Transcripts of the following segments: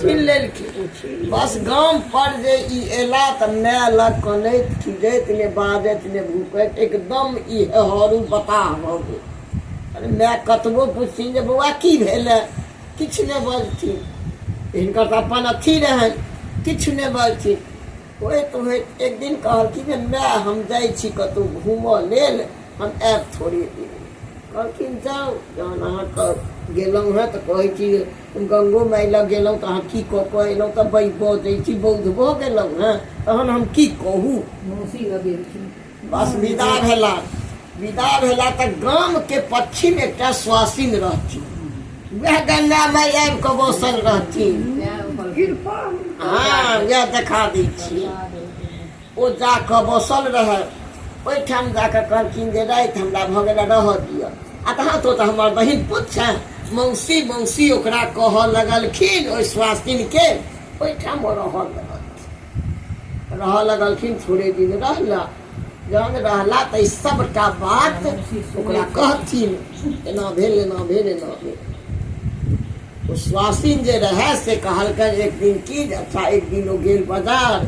छीन लेलखिन बस गाम पर जे ई एला तऽ माय लग कनैत खिजैत ने बाजैत ने भूकैत एकदम ई हेहरू बताह भऽ गेल माय कतबो पुछथिन जे बौआ की भेलै किछु नहि बजथिन हिनकर तऽ अपन अथी रहनि किछु नहि बजथिन होइत होइत एक दिन कहलखिन जे माय हम जाइ छी कतहु घूमऽ लेल हम आयब थोड़े दिन कहलखिन जाउ जहन अहाँके गेलहुँ हेँ तऽ कहै छी हम गंगो माय लग गेलहुँ तऽ अहाँ की कऽ कऽ एलहुँ तऽ बै बजै छी बौद्ध भऽ गेलहुँ हँ तहन हम की कहू मौसी लग गेलखिन बस विदा भेला विदा भेला तऽ गामके पश्चिम एकटा स्वासिन रहथिन वएह गंगा माय आबि कऽ बसल रहथिन कृपा हँ वएह देखा दै छी ओ जा कऽ बसल रहै ओहिठाम जा कऽ कहलखिन जे राति हमरा भऽ गेल रहऽ दिअ आ तहाँ तो तऽ हमर बहिन पुत छै मौसी मौसी ओकरा कहऽ लगलखिन ओहि स्वास्थिनके ओहिठाम ओ रहऽ लगलखिन रहऽ लगलखिन थोड़े दिन रहला जहन रहला तऽ सभटा बात ओकरा कहथिन एना भेल एना भेल एना भेल ओ स्वासिन जे रहए से कहलकनि एक दिन की जे अच्छा एक दिन ओ गेल बाजार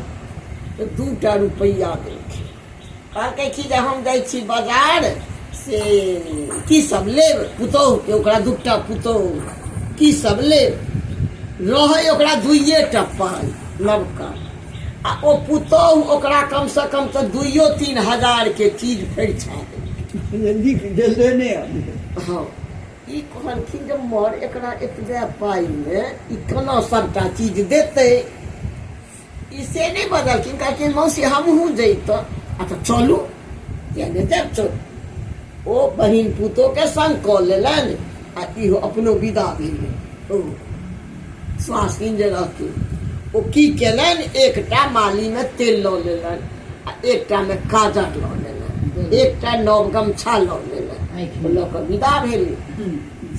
तऽ दू टा रुपैआ देलखिन कहलकै कि जे हम जाइ छी बाजार से की सब लेब पुतोहुके ओकरा दू टा पुतोहु की सब लेब रहै ओकरा दुइए टा पाइ नवका आ ओ पुतोहु ओकरा कमसँ कम तऽ दुइयो तीन हजारके चीज फरिछा देलखिन नीक गेले नहि आबि हँ ई कहलखिन जे मर एकरा एतबे पाइमे ई केना सभटा चीज देतै ई से नहि बजलखिन कहलखिन मौसी हमहूँ जैतहुँ आ तऽ चलू किया नहि जायब चलू ओ बहिन पुतोके सङ्ग कऽ लेलनि आ इहो अपनो विदा भेलै ओ स्वास्थिन जे रहथिन ओ की केलनि एकटा मालीमे तेल लऽ लेलनि आ एकटा मे काजर लऽ लेलक एकटा नव गमछा लऽ लेलक ओ लऽ कऽ विदा भेली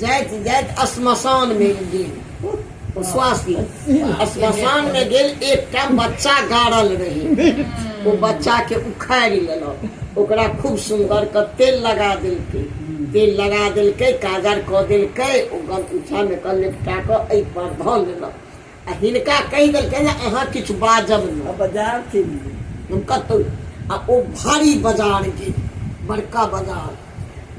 जाइत जाइत श्मशान मे गेल ओ स्वास्थ्य श्मशान मे गेल एकटा बच्चा गाड़ल रही ओ बच्चा के उखाड़ि लेलक ओकरा खूब सुंदर के तेल लगा देलकै तेल लगा देलकै काजर कऽ देलकै ओ गमछा मे कऽ लेपटा कऽ एहि पर धऽ लेलक आ हिनका कहि देलकै जे अहाँ किछु बाजब नहि बाजार छै हम कतहु आ ओ भारी बाजार गेल बड़का बाजार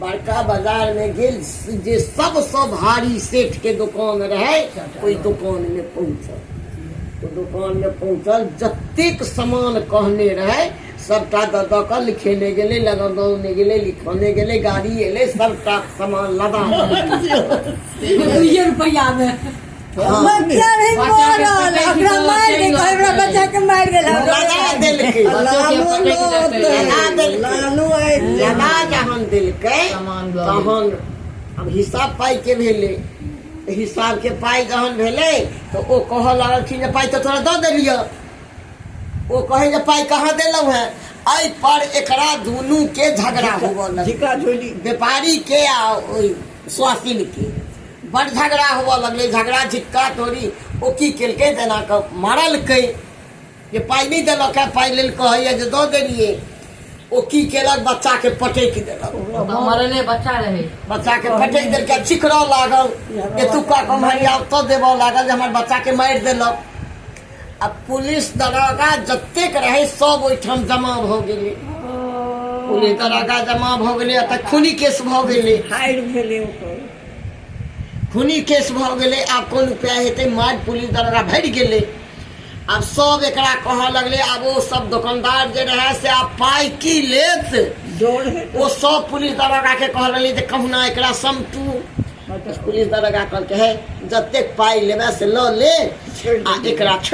बड़का बाजारमे गेल जे सबसँ भारी सेठके दोकान रहै ओहि दोकानमे पहुँचल ओ दोकानमे पहुँचल जतेक सामान कहने रहै सभटा दऽ दऽ कऽ लिखेने गेलै लगाने गेलै लिखने गेलै गाड़ी एलै सभटा सामान लदा दुइए रुपैआमे बच्चा नहीं मरल ओकरा मार के कहे हमरा बच्चा के मार गेल लगा देलकै लालू लगा देलकै लालू आइ लगा जहन देलकै तहन अब हिसाब पाइ के भेलै तऽ हिसाब के पाइ जहन भेलै तऽ ओ कहऽ लगलखिन जे पाइ तऽ तोरा दऽ देलियऽ ओ कहै जे पाइ कहाँ देलहुँ हेँ एहि पर एकरा दुनू के झगड़ा होबऽ लगलै झिका झोली व्यापारी के आ ओहि स्वासिनके बड झगड़ा होबऽ लगलै झगड़ा झिक्का तोरी ओ की केलकै जेना कऽ मारलकै जे पाइ नहि देलक है पाइ लेल कहैए जे दऽ देलियै ओ की केलक बच्चाके पटकि देलक ओकरा मरले बच्चा रहै बच्चाके पटकि देलकै चिकरऽ लागल एतुका कम्हरिया ओतऽ देबऽ लागल जे हमर बच्चाके मारि देलक आ पुलिस दरोगा जतेक रहै सब ओहिठाम जमा भऽ गेलै पुलिस दरोगा जमा भऽ गेलै एतऽ खूनी केस भऽ गेलै फायर भेलै ओकर खूनी केस भऽ गेलै आब कोन उपाय हेतै मारि पुलिस दरोगा भरि गेलै आब सब एकरा कहऽ लगलै आब ओ सब दोकानदार जे रहै से आब पाइ की लेत डर है ओ सब पुलिस दरोगा के कहऽ लगलै जे कहुना एकरा समटू पुलिस दरोगा कहलकै हे जतेक पाइ लेबै से लऽ ले आ एकरा छोड़ि